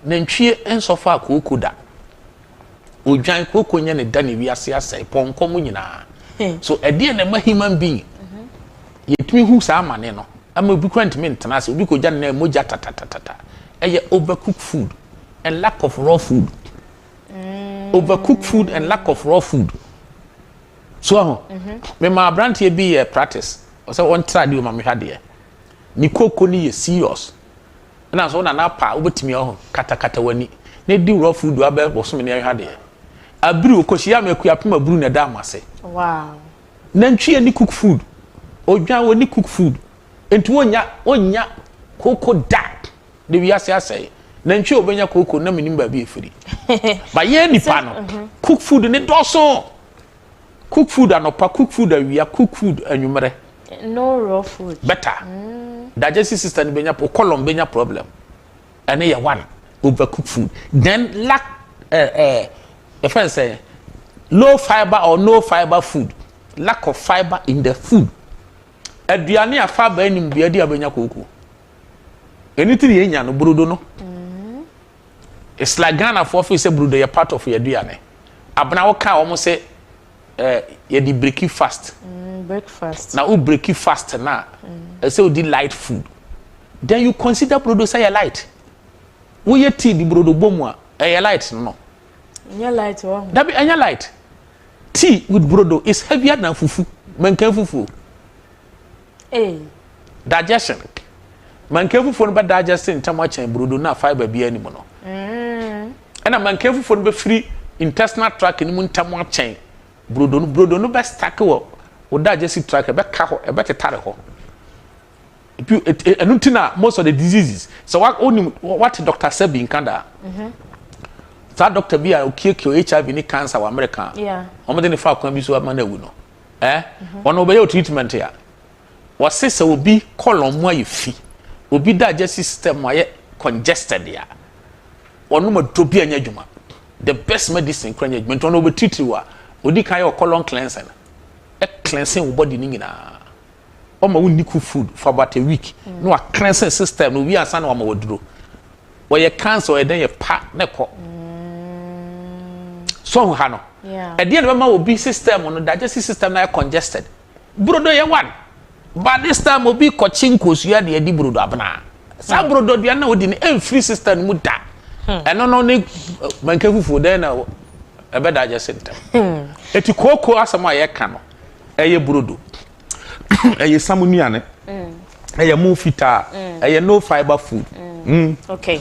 Nantwie nsɔ faa kooko da. Odwan, kooko nyɛ ne da na wiase asɛe, pɔnkɔ mo nyinaa. So ɛdeɛ na ɛma human being yɛtumi hu saa amane no ama obi kora ntumi ntena ase, obi kɔgya ne nan mogya tatatatata. Ɛyɛ overcooked food and lack of raw food. Overcooked food and lack of raw food. So ahu, mema aberanteɛ bi yɛ practice, ɔsɛ ɔntra adeɛ o ma mehwɛ adeɛ. Ne kooko no yɛ serious. Nna so wo nana pa a wobetumi ahu, katakata w'ani, na edi wo rɔfo du abɛ bosome ne ɛhwɛ adeɛ. Abiriw, okohyiaa me Akuapem aburu na ɛdaa m'ase. Wow. Nantwi ani cook food, odwan w'ani cook food, enti wonnya, wonnya kooko da na wiase asɛe. Nantwi a obenya kooko, na menim baabi a efiri. But yɛn nipa no, cook food no dɔɔso. Cook food anɔpa, cook food awia, cook food anwummerɛ. No raw food. Better. Mm. Digestive system benya, o colon benya problem. Ɛne yɛ one, over cook food. Then lack, eh, eh, your friend say, low fiber or no fiber food. Lack of fiber in the food. Aduane a fiber anim deɛ ɛde abɛnya kooko. Ɛno ti ne yɛnya no, brodo no. Mm. It's like Ghana foɔ feel sɛ brudo yɛ part of y'aduane. Abena wo kaa wɔn sɛ eh, yɛdi breki fast. Mm, breakfast. Na wo breki fast na mm. ɛsɛ wo di light food. Then you consider brudo sɛ yɛ light. Wo yɛ tea di brudo bɔ mu a ɛyɛ light no. Ɛnyɛ light wɔ ho. Dabi ɛnyɛ light. Tea with brudo is heavier than fufu. Mɛnkan fufu. Hey. Digestion. Mankefufoɔ no bɛ digest ntɛm akyɛn burodo no a fiber biara ni mu no. Mm. Ɛna mankefufoɔ no bɛfiri intestinal tract no mu ntɛm akyɛn burodo no. Burodo no bɛ stack wɔ wo digestive tract ɛbɛka hɔ ɛbɛtetare hɔ. Ɛno nti na most of the diseases sɛ wa wonim wate Dr. Sebi nka daa. Mhm. saa doctor bi a okiekie hiv ne cancer wɔ america wɔn de ne fa kwan bi so ama no awu no eh wɔn na wɔbɛyɛ treatment a wɔse sɛ obi kɔlɔn mu ayɛ fi obi da agya system ayɛ congested a wɔnom aduro bi anya adwuma the best medicine kura anya adwuma nti wɔn na wɔbɛtitiriw a odi kan yɛ ɔkɔlɔn cleansing ɛ cleansing wo body ne nyinaa. ɔma wo nni cook food for about a week na wa cleansing system no wie ansa na wama waduro wɔyɛ cancer ɔyɛ dɛn yɛ pa na ɛkɔ so ha no ɛdeɛ na bɛma obi system no digestive system no ayɛ congested brodo yɛ one but this time obi kɔkye nkosua de adi brodo abena saa brodo aduane na wodi no ɛmfiri system no mu da ɛno no ne manka fufuo dɛn na ɛbɛ digest ntɛm ɛti kooko asɛm a yɛka no ɛyɛ brodo ɛyɛ samu nnuane ɛyɛ mu fitaa ɛyɛ no fibre food. Mm. Mm. okay